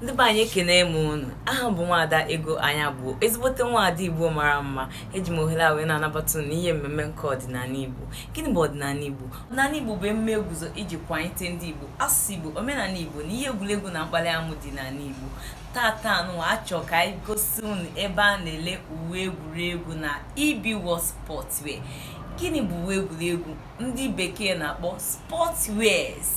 ndị be anyị ekene m unu aha m bụ nwaada ego anya bụ ezigbote nwaada igbo mara mma eji m ohere a wee na-anabata unu n'ihe mmemme nke ọdịnala igbo gịnị bụ ọdịnala igbo ọdịnala igbo bụ emume eguzo iji kwanyete ndị igbo asụsụ igbo omenala igbo na ihe egwuregwu na mkpali amụ dị n'ala igbo tata anụwa achọ ka anyị gosi unu ebe a na-ele uwe egwuregwu na EB World Sportswear gịnị bụ uwe egwuregwu ndị bekee na-akpọ sportswears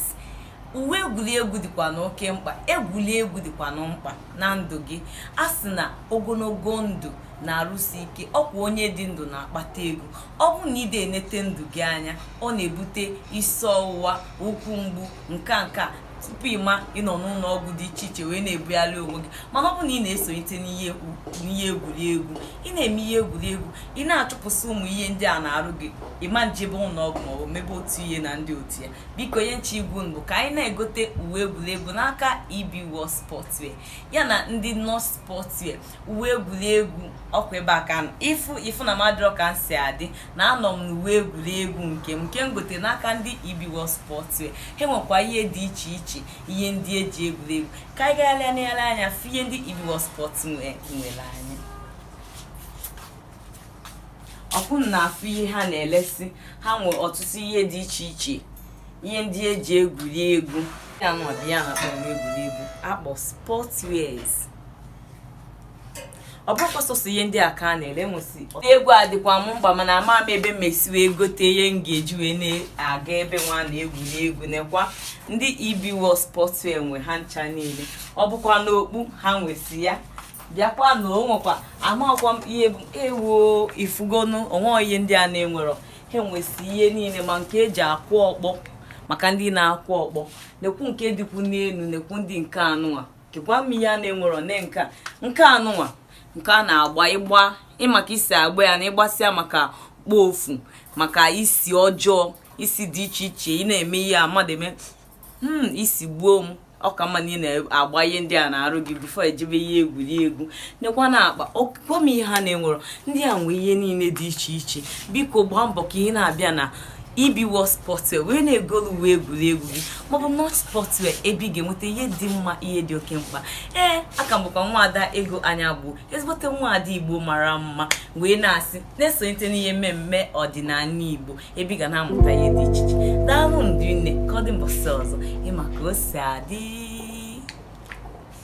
uwe egwuregwu dịkwanụ oke mkpa egwuregwu dịkwanụ mkpa na ndụ gị a sị na ogologo ndụ na arụ isi ike ọkwa onye dị ndụ na-akpata ego ọ bụrụ na ide enete ndụ gị anya ọ na-ebute isi ọwụwa ụkwụ mgbu nke a nke a tupu ị ma ị nọ n'ụlọ ọgwụ dị iche iche wee na-ebugharị onwe gị mana ọ bụ na ị na-esonyete n'ihe egwuregwu ị na-eme ihe egwuregwu ị na-achụpụsị ụmụ ihe ndị a n'arụ gị ị ma ejebe ụlọ ọgwụ maọbụ mebe otu ihe na ndị otu ya biko ihe m chọ ịgwa unu bụ ka anyị na-egote uwe egwuregwu n'aka EB World Sportswear ya na ndị North Sportswear uwe egwuregwu ọkwa ebe a ka m nọ ị fụ ị fụ na m adịrọ ka m si adị na anọ m n'uwe egwuregwu nke m nke m gote n'aka ndị EB World Sportswear ha nwekwa ihe dị iche iche ihe ndị eji egwuregwu ka anyị gagharịa nele anya fụ ihe ndị EB World Sportswear nwere anyị ọkwa unu na-afụ ihe ha na-elesi ha nwere ọtụtụ ihe dị iche iche ihe ndị eji egwuri egwu ya nwa bụ ya na akpọrọ egwuri egwu akpọ sports wears ọ bụkwa sọsọ ihe ndị a ka a na-ele nwesị egwu adịkwa m mkpa mana ama m ebe m esi wee gote ihe m ga-eji wee na-aga ebe nwa a na-egwuri egwu nekwa ndị EB World Sportswear nwe ha ncha niile ọ bụkwanụ okpu ha nwesị ya bịakwanụ o nwekwa amakwa m ihe bụ ewu ị fụgonụ o nwe ihe ndị a na-enwerọ ha nwesị ihe niile ma nke eji akụ ọkpọ maka ndị na-akụ ọkpọ nekwu nke dịkwu n'elu nekwu ndị nke anụnwa kekwanụ ihe ha na-enwerọ ne nke nke anụnwa nke a na-agba ịgba maka isi agba ya na ịgbasịa maka kpofu maka isi ọjọọ isi dị iche iche ị na-eme ihe a mmadụ eme hmm isi gbuo m ọ ka mma na ị na-agba ihe ndị a n'arụ gị before ị jebe ihe egwuregwu nekwanụ akpa kọọ m ihe ha na-enwerọ ndị a nwee ihe niile dị iche iche biko gbaa mbọ ka ị na-abịa na EB World Sportswear wee na-egolu uwe egwuregwu gị maọbụ North Sportswear ebe ị ga-enweta ihe dị mma ihe dị oke mkpa ee aha m bụkwa nwaada ego anya bụ ezigbote nwaada igbo mara mma wee na-asị na-esonyete n'ihe mmemme ọdịnala igbo ebe ị ga na-amụta ihe dị iche iche daalụ ndị nne ka ọ dị mbọsị ọzọ ị ma ka o si adị